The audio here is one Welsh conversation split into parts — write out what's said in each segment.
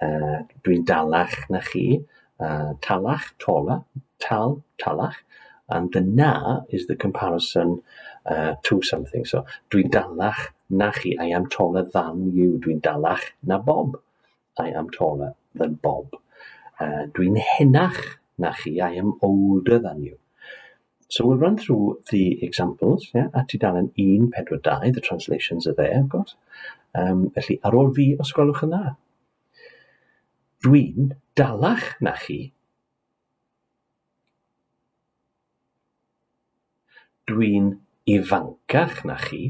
Uh, dwi'n dalach na chi. Uh, talach, taller, tal, talach. And the na is the comparison uh, to something. So, dwi'n dalach na chi. I am taller than you. Dwi'n dalach na Bob. I am taller than Bob. Uh, dwi'n henach na chi. I am older than you. So we'll run through the examples, yeah, at tudalen 142, the translations are there, of course. Um, felly, ar ôl fi, os gwelwch yn dda. Dwi'n dalach na chi. Dwi'n ifancach na chi.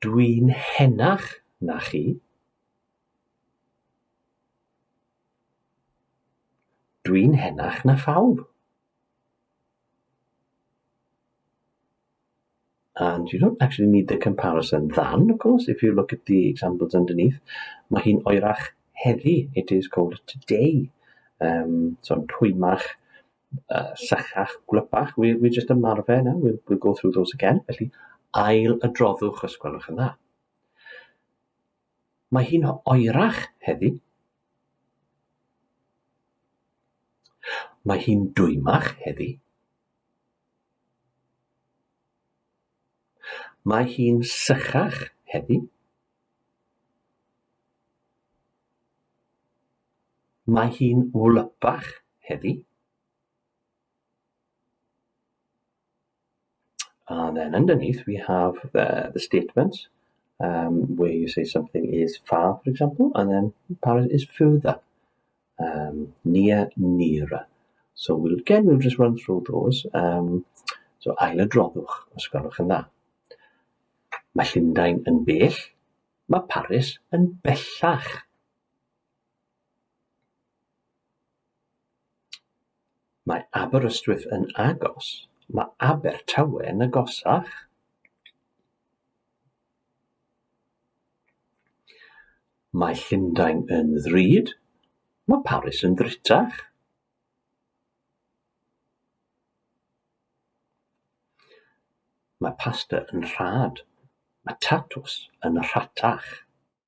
Dwi'n henach na chi. Dwi'n henach na phawb. And you don't actually need the comparison than, of course, if you look at the examples underneath. Mae hi'n oerach heddi, it is cold today. Um, so yn twymach, uh, sychach, gwlypach, we, we just ymarfer now, we'll, we'll go through those again, felly ail y droddwch os gwelwch yn dda. Mae hi'n oerach heddi. Mae hi'n dwymach heddi. Mae hi'n sychach heddi. Mae hi'n wlypach heddi. And then underneath we have uh, the statements um, where you say something is far, for example, and then far is further, um, near, nearer. So we'll, again, we'll just run through those. Um, so ail y droddwch, os gwelwch yn dda. Mae Llundain yn bell, mae Paris yn bellach. Mae Aberystwyth yn agos, mae Abertawe yn agosach. Mae Llundain yn ddrud, mae Paris yn ddrutach. Mae pasta yn rhad, mae tatws yn rhatach.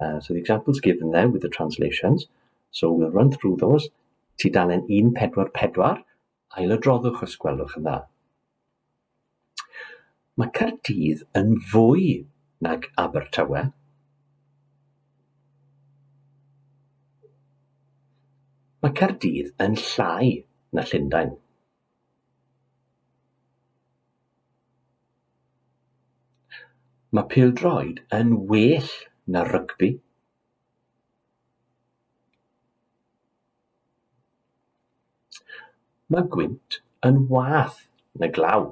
Uh, so the examples given there with the translations. So we'll run through those. Tudalen 144, ailodroddwch os gwelwch yn dda. Mae Cardydd yn fwy nag Abertawe. Mae Cardydd yn llai na Llundain. Mae pêl-droed yn well na rygbi. Mae gwynt yn wath na glaw.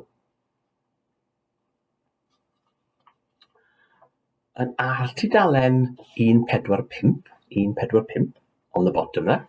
Yn ar tudalen 145, 145, on the bottom there,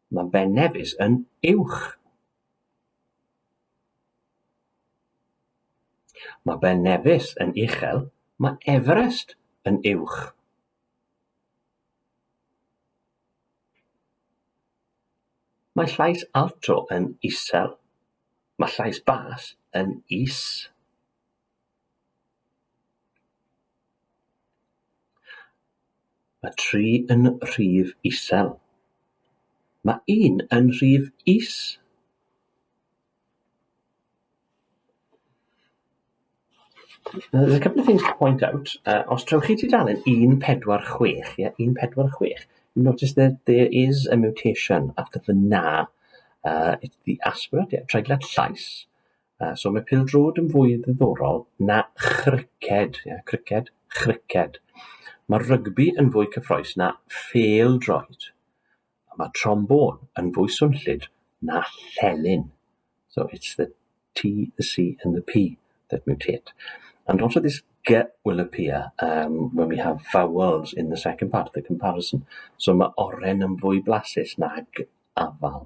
Mae Bennevis yn uwch. Mae Bennevis yn uchel, mae Everest yn uwch. Mae llais alto yn isel. Mae llais bas yn is. Mae tri yn rhif isel. Mae un yn rhif is. There's a couple of things to point out. Uh, os trewch chi tudalen 146, yeah, 146, you notice that there is a mutation after the na. Uh, it's the aspirate, yeah, treiglad llais. Uh, so mae pildrod yn fwy ddiddorol na chriced. Yeah, criced, chriced. Mae rygbi yn fwy cyffroes na pheldroed. Mae trombôn yn fwy swnllyd na llenyn. So it's the T, the C and the P that mutate. And also this G will appear um, when we have vowels in the second part of the comparison. So mae oren yn fwy blasus na g afal.